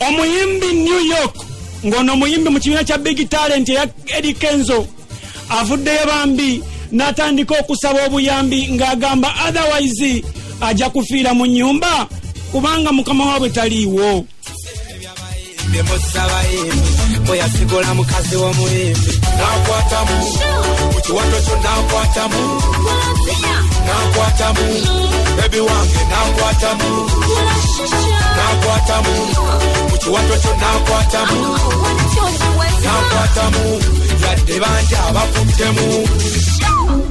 omuyimbi new york ng'ono omuyimbi mu kibiina kya big talent eya edi kenzo avuddeyo bambi n'atandika okusaba obuyambi ng'agamba otherwise ajja kufiira mu nyumba kubanga mukama waabwe taliiwo bweyasigula mukazi w'omuyimbi nakwatamu mu kiwato kyo nakwatamu nakwatamu bebi wange nakwatamu nakwatamu mu kiwato kyo nakwatamu nakwatamu yadde bangi abakuttemu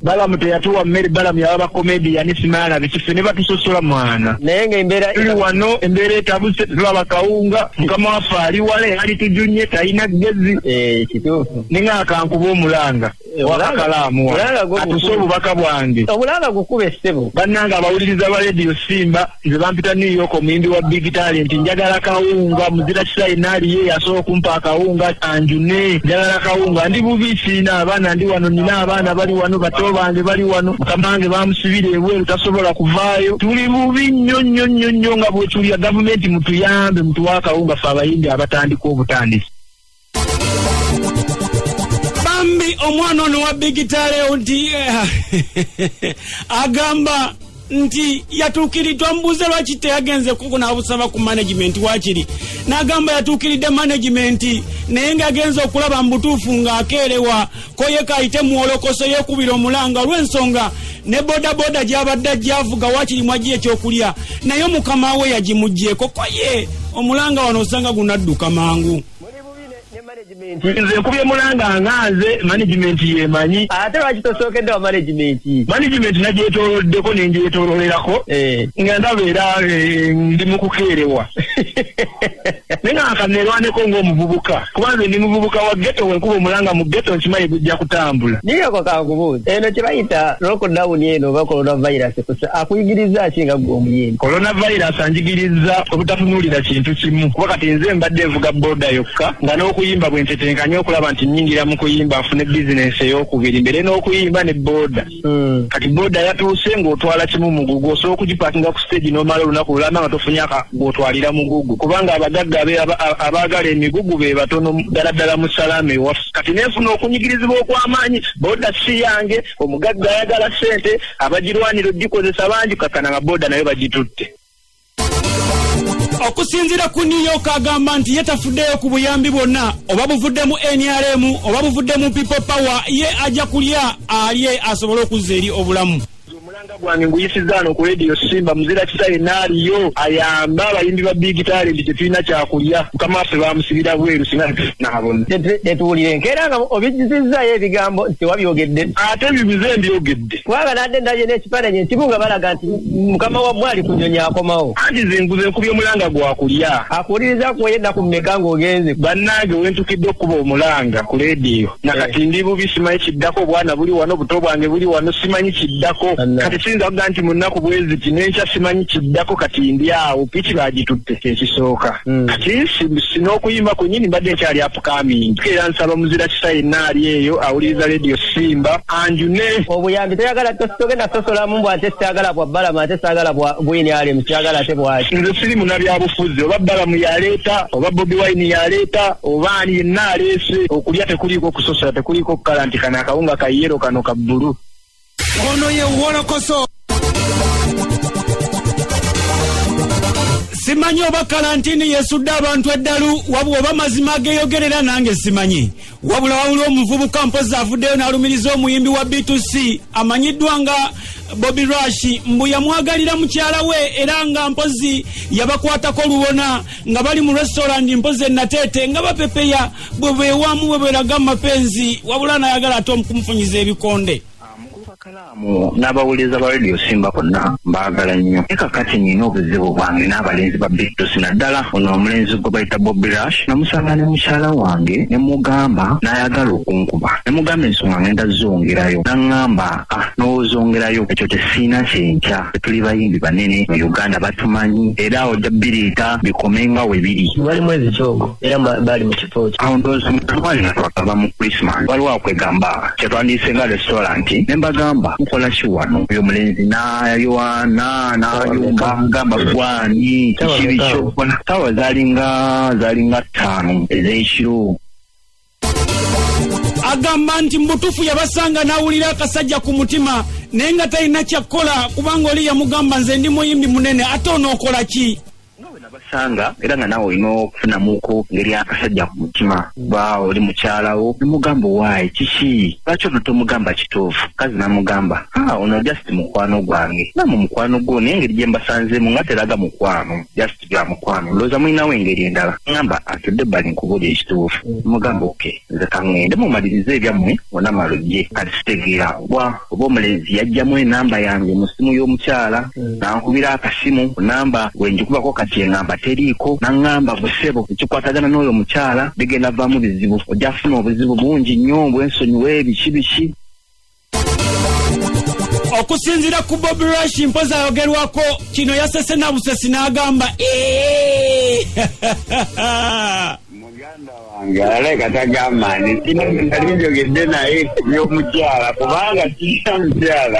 balamu teyatuwa mmere balamu yaba bakomediyani simaala bikise ne batusosola mwana naye nga embeera tuli wano embeera etabuse tulaba kawunga mukama waffe ali wala yali tujunye talina gezi eh, kituufu ninga akankuba omulanga wakakalaamu atuse obubaka bwange obulanga gukube ssebo bannange abawuliriza ba rediyo simba nze bampita new york omuyimbi wa big talent njagala kawunga muzira kisa yenna aliye yasobola okumpa akawunga anjune njagala kawunga ndi bubi siina abaana ndi wano nina abaana bali wano bato bange bali wano mukamange bamusibira ebweru tasobola kuvaayo tuli bubi nnyo nnyo nnyo nnyo nga bwetulya gavumenti mutuyambe mutuwa akawunga fe abayimbi abatandika obutandisi bambi omwana ono wa bigitalewo nti eh, agamba nti yatuukiriddwa mubuuze lwaki teyagenze kuku n'abusaba ku management wakiri n'agamba yatuukiridde management naye ng'agenza okulaba mu butuufu ng'akeerewa koyeka ayite muwolokoso yeekubira omulanga olw'ensonga ne bodaboda gy'abadde ajjaavuga wakiri mwajji ekyokulya naye mukama we yagimugyeko koye omulanga wano osanga gunadduka mangu nze nkubye mulanga nga nze management yemanyi ate lwaki tosookedde wa management management nagyetoloddeko nengyetololerako eh. nga ndaba era eh, ndi mukukeerewa naye nga nkanerwaneko ngaomuvubuka kuba nze ndi muvubuka wa geto wenkuba omulanga mu geto nkimanyi gujja kutambula niyoko kankubuuza eno kyebayita lockdown eno oba corona virus akuyigiriza ki nga gwe omuyini Coronavirus anjigirizza obutatunuulira kintu kimu kuba kati nze mbadde nvuga boda yokka nga n'okuyimba bwe ntetenkanye okulaba nti nnyingira mu kuyimba nfune bizinensi ey'okubiri mbere n'okuyimba ne boda hmm. kati boda yatuuse ng'otwala kimu mugugu osobola okugipakinga ku siteegi n'omala olunaku lulamba nga tofunyaka gw'otwalira mugugu kubanga abagagga abaagala emigugu be batono ddala ddala mu salaama ewaffe kati nenfuna okunyigirizibwa okw'amaanyi boda si yange omugagga ayagala ssente abagirwanira ogikozesa bangi kakana nga boda nayo bagitutte okusinzira ku new york agamba nti ye tafuddeyo ku buyambi bwonna oba buvudde mu nrm oba buvudde mu people power ye ajja kulya alye asobole okuzza eri obulamu omulanga gwange nguyisizaano ku radio simba muzira kisa yenna aliyo ayamba abayimbi ba big talent tetulina kyakulya mukama waffe bamusibira bweru singa tetuwulire nkeera nga obijjizizzayo ebigambo tewabyogedde ate bibize mbyogedde kubanga nadde ndabye n'ekifaananyi ekimu nga balaga nti mukama wammwe ali ku nyonyi akomawo anti zenguze nkubye omulanga gwakulya akuwuliriza kwoyo ennaku mumeka ng'ogenze bannange wentukidde okukuba omulanga ku leediyo nakati eh. ndi bubi simanyi kiddako obwana buli wano obuto bwange buli wano simanyi kiddako kati siyinza kuga nti mu nnaku bweziti nenkya simanyi kiddako kati ndi awo piki bagitutte kyekisooka hmm. kati n'okuyimba kwenyini mbadde nkyali Coming. Era nsaba muzira kisa yenna ali eyo awuliriza radio simba anjune obuyambi toyagala togenda sosolamu mbu ate syagala bwa balama ate syagala bwa bwini alemu syagala ate bwaki nze siri munabyabufuzi oba balamu yaleeta oba bobi wine yaleeta oba ani yenna aleese okulya tekuliiko kusosola tekuliiko kukala nti kano akawunga kayero kano ka bbulu Ono ye wolokoso. simanyi oba kalantini yesudde abantu eddalu wabula oba mazima ageyogerera nange simanyi wabula wawuli omuvubuka mpozi avuddeyo n'alumiriza omuyimbi wa b2c amanyiddwa nga bobi rashi mbu yamwagalira mukyala we era nga mpozi yabakwatako lubona nga bali mu restaurant mpozi enateete nga bapepeya bwebewamu bweberaga mumapenzi wabula nayagala ate omukumufunyiza ebikonde kalaamu n'abawuliriza ba radio simba konna mbaagala nnyo naye kakati nina obuzibu bwange n'abalenzi ba bigtosi naddala ono omulenzi gwe bayita bobi rush namusanga ne mukyala wange ne mugamba n'ayagala okunkuba ne mugamba ensonga ngenda zongerayo naŋŋamba ah n'ozongerayo ekyo tesiina kyenkya tetuli bayimbi banene mu uganda batumanyi era ojja biriita bikomenga we biri wali mwezi kyogo era baali mu kifo kyo awo ndowooza mutwali natwakava mu christmas waliwo akwegamba kyetwandiyise nga restaurant ne mbagamba mukola ki wano oyo mulenzi nayoana nayumba gamba gwani kibi kyokola sawa zalinga zalinga ttaano ez'ekiro agamba nti mubutuufu yabasanga n'awulira akasajja ku mutima naye nga talina kyakkola kubanga oli yamugamba nze ndi muyimbi munene ate onookola ki basanga era nga nawe olina okufunamuko ngeri akasajja ku mutima ba oli mukyalawo nemugamba owaayi kiki lwaki ono tomugamba kituufu kazi namugamba ah, ono just mukwano gwange namu mukwano gwo naye engeri gye mbasanzeemu nga teraga mukwano just bya mukwano ndowooza mulinawo engeri endala ŋamba atudde bali nkubuli ekituufu mugamba oke nze kaŋŋende mumalirize ebyammwe ona malugye kati sitegeera kuba oba omulenzi yajjamu enamba yange mu ssimu y'omukyala hmm. nankubira akasimu namba gwe njikubako kati eŋamba teriiko naŋŋamba busebo ekikwatagana n'oyo omukyala bigenda vaamu bizibu ojja kufuna obuzibu bungi nnyo bwensonyiwa ebiki biki okusinzira ku bob rush mpozi ayogerwako kino yasese na busesi n'agamba muganda wange aleka tagamba nti kino nali njogedde naye ku by'omukyala kubanga kirina mukyala